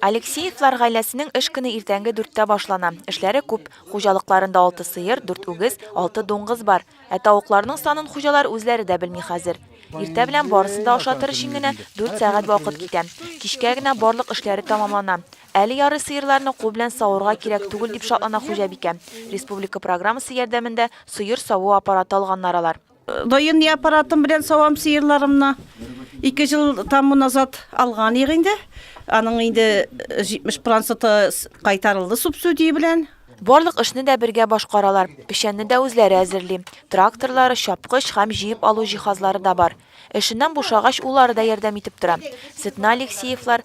Алексеевлар гаиләсенең эш көне иртәнге дүрттә башлана. Эшләре күп. Хуҗалыкларында алты сыер, дүрт үгез, алты дуңгыз бар. Ә тавыкларның санын хуҗалар үзләре дә белми хәзер. Иртә белән барысын да ашатыр өчен генә дүрт сәгать вакыт китә. Кичкә генә барлык эшләре тәмамлана. Әле ярый сыерларны кул белән саварга кирәк түгел, дип шатлана хуҗабикә. Республика программасы ярдәмендә сыер саву аппараты алганнар алар. Даими аппаратым белән савам сыерларымны. Ике ел таму назад алган ир инде. Аның инде 70 проценты кайтарылды субсидия белән. Барлык эшне дә бергә башкаралар. Печәнне дә үзләре әзерли. Тракторлары, чапкыч һәм җыеп алу җиһазлары да бар. Эшеннән бушагач, уллары да ярдәм итеп тора. Сөтне Алексеевлар,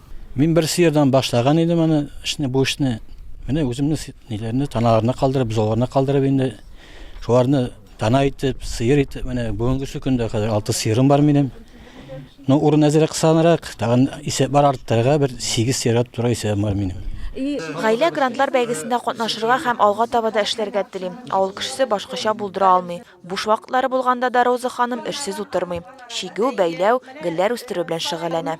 Мин бер сыердан башлаган идем аны эшне, бу эшне. Менә үземне ниләрне таналарына калдырып, бозауларына калдырып инде шуларны тана итеп, сыер итеп, менә бүгенге көндә хәзер алты сыерым бар минем. Ну, урын әзерәк кысанрак, тагын исәп бар арттырырга бер сигез сыерга туры исәбем бар минем. Гаилә грантлар бәйгесендә катнашырга һәм алга таба да эшләргә телим. Авыл кешесе башкача булдыра алмый. Буш вакытлары булганда да Роза ханым эшсез утырмый. Чигү, бәйләү, гөлләр үстерү белән шөгыльләнә.